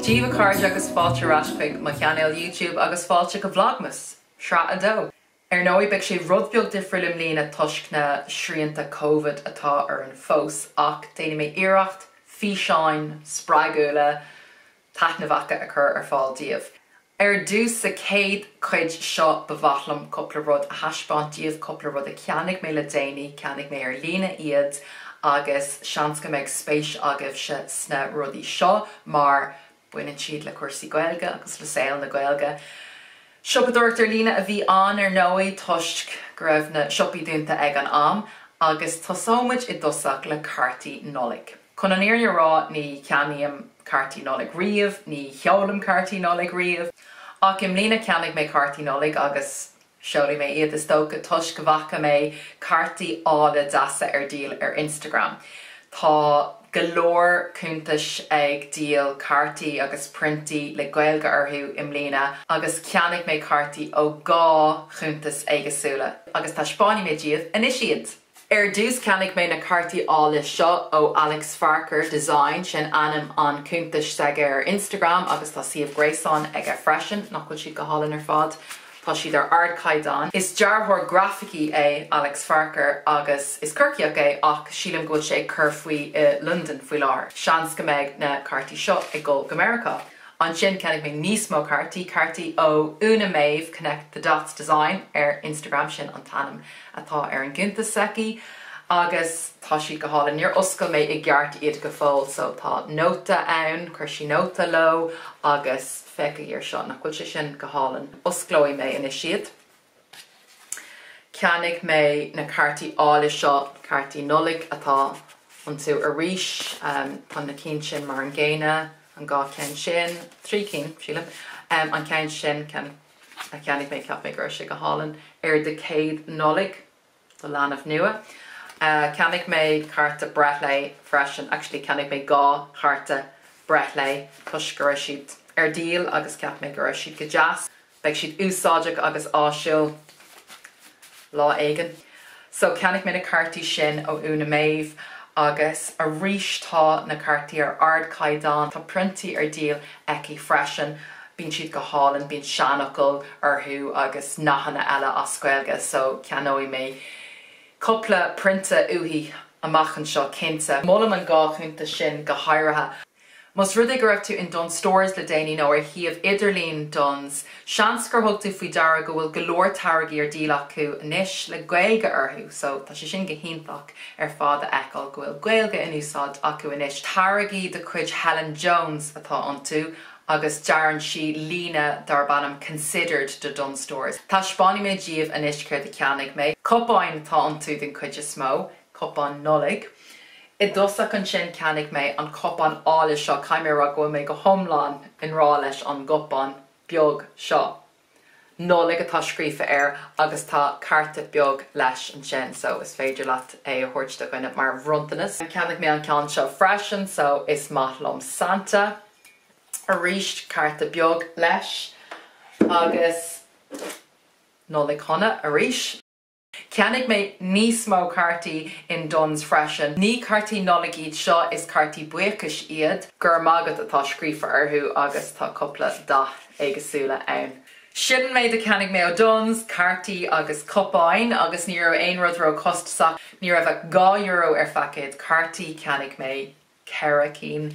Dia daoibh a chairde agus fáilte ar ais chuig mo chainéal YouTube agus fáilte go Vlogmas! Sraith 2. Ar ndóigh, beidh sé rud beag difriúil i mbliana toisc na srianta Covid atá orainn fós ach déanfaidh mé iarracht físeáin spreagúla, taitneamhacha a chur ar fáil daoibh. Ar dtús, sa chéad chuid seo, ba mhaith liom cúpla rud a thaispeáint daoibh, cúpla rud a cheannaigh mé le déanaí, cheannaigh mé ar líne iad agus seans go mbeidh spéis agaibhse sna rudaí seo mar Baineann siad le cúrsaí Gaeilge agus le saol na Gaeilge. Siopadóireacht ar líne a bhí ann ar ndóigh toisc go raibh na siopaí dúnta ag an am. Agus tosóidh muid i dtosach le cártaí Nollag. Chun an fhírinne a rá ní cheannaím cártaí Nollag riamh, ní sheolaim cártaí Nollag riamh. Ach i mbliana cheannaigh mé cártaí Nollag agus Seolfaidh mé iad is dócha toisc go bhfaca mé cártaí áille deasa ar díol ar Instagram. Tá go leor cuntais ag díol cártaí agus priontaí le Gaeilge orthu i mbliana agus cheannaigh mé cártaí ó dhá chuntas éagsúla agus taispeánfaidh mé daoibh anois iad! Ar dtús cheannaigh mé na cártaí áille seo ó Alex Farquhar Design, sin ainm an chuntais s'aige ar Instagram agus tá suíomh gréasáin aige freisin. Nach bhfuil siad go hálainn ar fad? Tá siad ar ardchaighdeán. Is dearthóir grafaicí é Alex Farquhar agus is Corcaíoch é ach sílim go bhfuil sé ag cur faoi i Londain faoi láthair. Seans go mbeidh na cártaí seo ag dul go Meiriceá! Ansin cheannaigh mé níos mó cártaí, cártaí ó Úna-Méabh Connect The Dots Design ar Instagram, sin an t-ainm atá ar an gcuntas s'aici, agus tá siad go hálainn. Níor oscail mé i gceart iad go fóill so tá nóta ann, chuir sí nóta leo agus féachaigí ar seo, nach bhfuil sé sin go hálainn? Osclóidh mé anois iad. Cheannaigh mé na cártaí áille seo, cártaí Nollag atá iontu arís. Tá na cinn sin mar an gcéanna, an dhá cheann sin, trí cinn, sílim. An ceann sin a cheannaigh mé, cheap mé go raibh sé go hálainn, ar do chéad Nollaig. do leanbh nua. Cheannaigh mé cárta breithlae freisin, actually cheannaigh mé dhá chárta breithlae toisc go raibh siad ar díol agus cheap mé go raibh siad go deas, beidh siad úsáideach agus áisiúil lá éigin. So cheannaigh mé na cártaí sin ó Úna-Méabh agus arís tá na cártaí ar ardchaighdeán, tá priontaí ar díol aici freisin. Bíonn siad go hálainn, bíonn seanfhocail orthu agus nathanna eile as Gaeilge so ceannóidh mé cúpla prionta uaithi amach anseo cinnte. Molaim an dhá chuntas sin go háirithe. Más rud é go raibh tú in Dunnes Stores le déanaí nó ar shuíomh idirlín Dunnes, seans gur thug tú faoi deara go bhfuil go leor táirgí ar díol acu anois le Gaeilge orthu so tá sé sin go hiontach. ar fad a fheiceáil go bhfuil Gaeilge in úsáid acu anois. Táirgí de chuid Helen James atá iontu agus dearann sí líne darb ainm 'Considered' do Dunnes Stores. Taispeánfaidh mé daoibh anois céard a cheannaigh mé. Cupáin atá iontu den chuid is mó, cupáin Nollag. I dtosach ansin cheannaigh mé an cupán álainn seo, caithfidh mé a rá go bhfuil mé go hiomlán i ngrá leis an gcupán beag seo. Nollaig atá scríofa air agus tá cárta beag leis ansin so is féidir leat é a thabhairt do dhuine mar bhronntanas. Cheannaigh mé an ceann seo freisin so is maith liom Santa. Arís cárta beag leis agus Nollaig Shona arís. Cheannaigh mé níos mó cártaí in Dunnes freisin. Ní cártaí Nollag iad seo, is cártaí buíochais iad. Go raibh maith agat atá scríofa orthu agus tá cúpla dath éagsúla ann. Sin an méid a cheannaigh mé ó Dunnes, cártaí agus cupáin agus ní raibh aon rud róchostasach, ní raibh ach dhá euro ar phaicéad cártaí, cheannaigh mé ceithre cinn.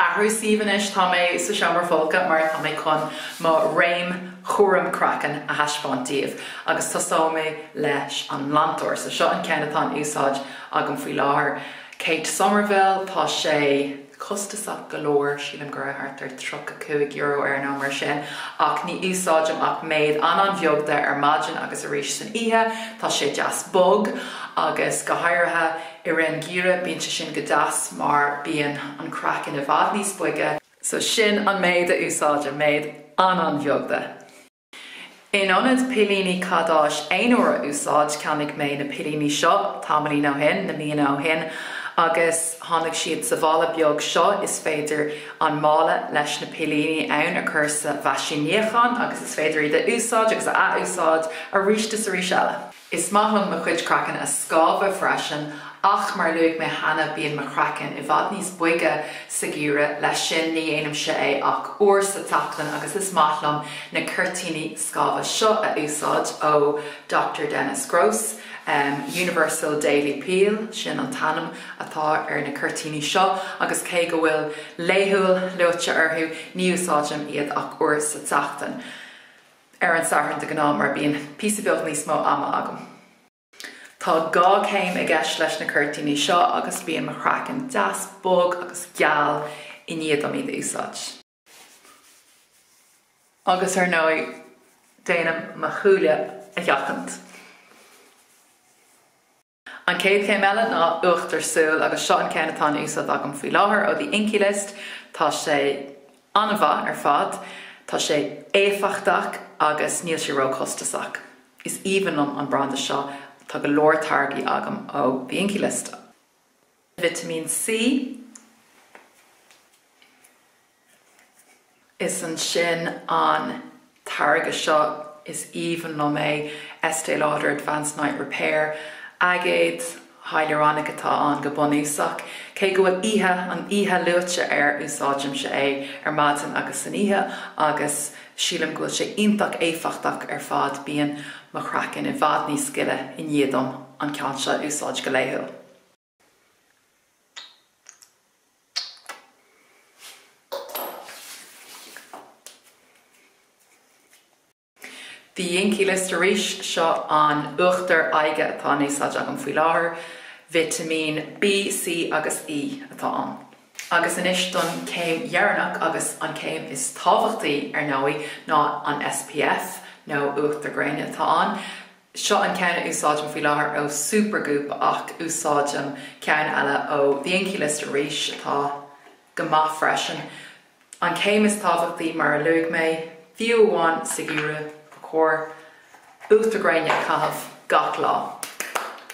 Athrú suímh anois, tá mé sa seomra folctha mar tá mé chun mo réim chúram craicinn a thaispeáint daoibh agus tosóidh mé leis an nglantóir. So seo an ceann atá in úsáid agam faoi láthair. Kate Somerville, Tá sé costasach go leor, sílim go raibh thart ar €35 air nó mar sin, ach ní úsáidim ach méid an-an-bheag de ar maidin agus arís san oíche. Tá sé deas bog agus go háirithe i rith an gheimhridh bíonn sé sin go deas mar bíonn an craiceann i bhfad níos boige. So sin an méid a úsáidim, méid an-an-bheag de. In ionad pillíní cadáis aonuair a úsáid, cheannaigh mé na pillíní seo tamaillín ó shin, na míonna ó shin, agus tháinig siad sa mhála beag seo. Is féidir an mála leis na pillíní ann a chur sa mheaisín níocháin agus is féidir iad a úsáid agus a athúsáid arís is arís eile. Is maith liom mo chuid craiceann a scamhadh freisin ach mar a luaigh mé cheana bíonn mo chraiceann i bhfad níos boige sa gheimhreadh, leis sin ní dhéanaimse é ach uair sa tseachtain agus is maith liom na ceirtíní scamhadh seo a úsáid ó Dr Dennis Gross, Universal Daily Peel, sin an t-ainm atá ar na ceirtíní seo agus cé go bhfuil 'laethúil' luaite orthu ní úsáidim iad ach uair sa tseachtain. ar an Satharn de ghnáth mar bíonn píosa beag níos mó ama agam. Tá dhá céim i gceist leis na ceirtíní seo agus bíonn mo chraiceann deas bog agus geal i ndiaidh dom iad a úsáid. Agus ar ndóigh déanaim mo shúile a sheachaint. An chéad chéim eile ná uachtar súl agus seo an ceann atá in úsáid agam faoi láthair ó The Inkey List. Tá sé an-mhaith ar fad, tá sé éifeachtach agus níl sé ró-chostasach. Is aoibhinn liom an branda seo, tá go leor táirgí agam ó The Inkey List. Vitimín C. Is ansin an táirge seo is aoibhinn liom é, Estée Lauder Advanced Night Repair. Aigéad hiailúráinic atá ann go bunúsach. Cé go bhfuil oíche, an oíche luaite air, úsáidimse é ar maidin agus san oíche agus sílim go bhfuil sé iontach éifeachtach ar fad. Bíonn mo chraiceann i bhfad níos gile i ndiaidh dom an ceann seo a úsáid go laethúil. The Inkey List arís, seo an uachtar aghaidhe atá in úsáid agam faoi láthair, vitimín B, C agus E atá ann. Agus anois don chéim dheireanach agus an céim is tábhachtaí ar ndóigh ná an SPF nó uachtar gréine atá ann. Seo an ceann a úsáidim faoi láthair ó Supergoop ach úsáidim ceann eile ó The Inkey List arís atá go maith freisin. An céim is tábhachtaí mar a luaigh mé, fiú amháin sa gheimhreadh, ba chóir uachtar gréine a chaitheamh gach lá.